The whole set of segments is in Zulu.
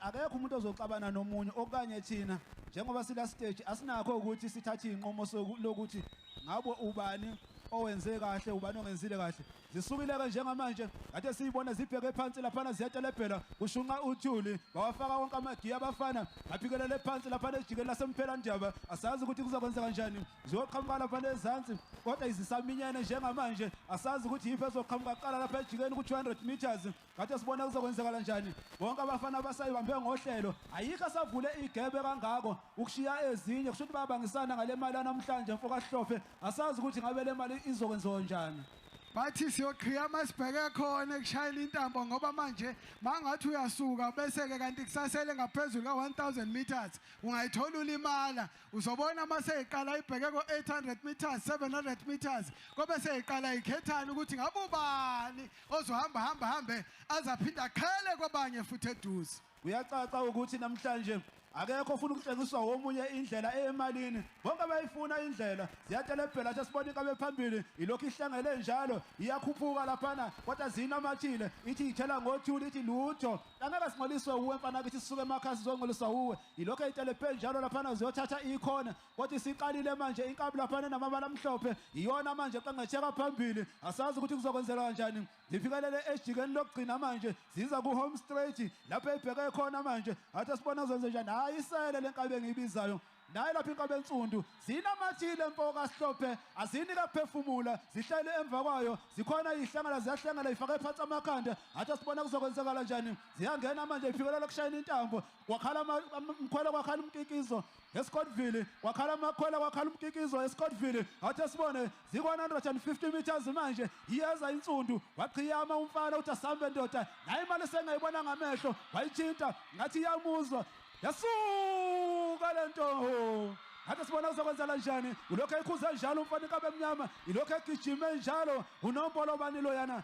Akekho umuntu ozoxabana nomunye okanye thina njengoba sila stage asinakho ukuthi sithathe inqomo lokuthi ngabo ubani owenze kahle ubani ongenzile kahle zisukile ke njengamanje kade siyibona zibheke phansi laphana ziyatalebhela kushunqa uthuli bawafaka wonke amagiya abafana aphikelele phansi laphana ejikeni lasemphela ndaba asazi ukuthi kuzokwenza kanjani ziyoqhamuka laphana ezansi kodwa izisaminyene njengamanje asazi ukuthi yiphi ezoqhamuka kuqala lapha ejikeni ku-200 meters Kade sibona kuzokwenzekala njani. Bonke abafana abasayibambe ngohlelo. Ayikho asavule igebe kangako ukushiya ezinye kusho ukuthi bayabangisana ngale mali namhlanje mfo kaHlophe. Asazi ukuthi ngabe le mali izokwenziwa njani. bathi siyoqhiyama sibheke khona ekushayela intambo ngoba manje mangathi uyasuka bese-ke kanti kusasele ngaphezulu ka-1000 meters ungayithola ulimala uzobona uma seyiqala ibheke ko-800 meters 700 meters kobe seyiqala ikhethane ukuthi ngabe ubani ozohamba hamba hambe aze aphinde aqhele kwabanye futhi eduze kuyacaca ukuthi namhlanje akekho ufuna ukutshengiswa womunye indlela eyemalini bonke bayifuna indlela ziyatelebhela nje sibona inkabe phambili ilokhu ihlangele njalo iyakhuphuka laphana kodwa zinamathile ithi ithela ngothuli ithi lutho angeke singcoliswe uwe mfana kithi sisuke emakhaya sizongcoliswa uwe Yilokho ezitele kuphela njalo laphana ziyothatha ikhona kodwa isiqalile manje inkabi laphana namabala amhlophe iyona manje eqengetheka phambili asazi ukuthi kuzokwenzeka kanjani zifikelele ejikeni lokugcina manje ziza ku home straight lapho ebheke khona manje athi sibona zenze njani hayi isele lenkabi engiyibizayo naye lapha inkabi ensundu zinamathile mfo kasihlophe azini kaphefumula zihlele emva kwayo zikhona ihlangana ziyahlangana ifake phansi amakhanda athi sibona kuzokwenzakala njani ziyangena manje ifikelela kushayina intambo kwakhala mkhwela kwakhala umkikizo eScottville kwakhala amakhwela kwakhala umkikizo eScottville awuthi sibone zi-150 meters manje iyeza insundu waqhiyama umfana uthi asambe ndoda naye imali esengayibona ngamehlo wayithinta ngathi iyamuzwa yasuka le nto ngathi sibona kuzokwenzela njani ulokhu ekhuze njalo umfana inkabe emnyama ilokhu egijime njalo unompolo bani loyana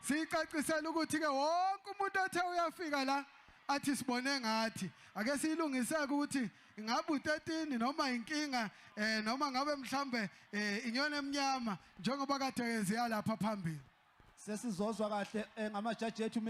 Siyicacisela ukuthi ke wonke umuntu othe uyafika la athi sibone ngathi ake siyilungiseke ukuthi ingabe u13 noma inkinga eh noma ngabe mhlambe eh, inyoni emnyama njengoba kade yenzeka lapha phambili sesizozwa kahle eh, ngamajaji ethu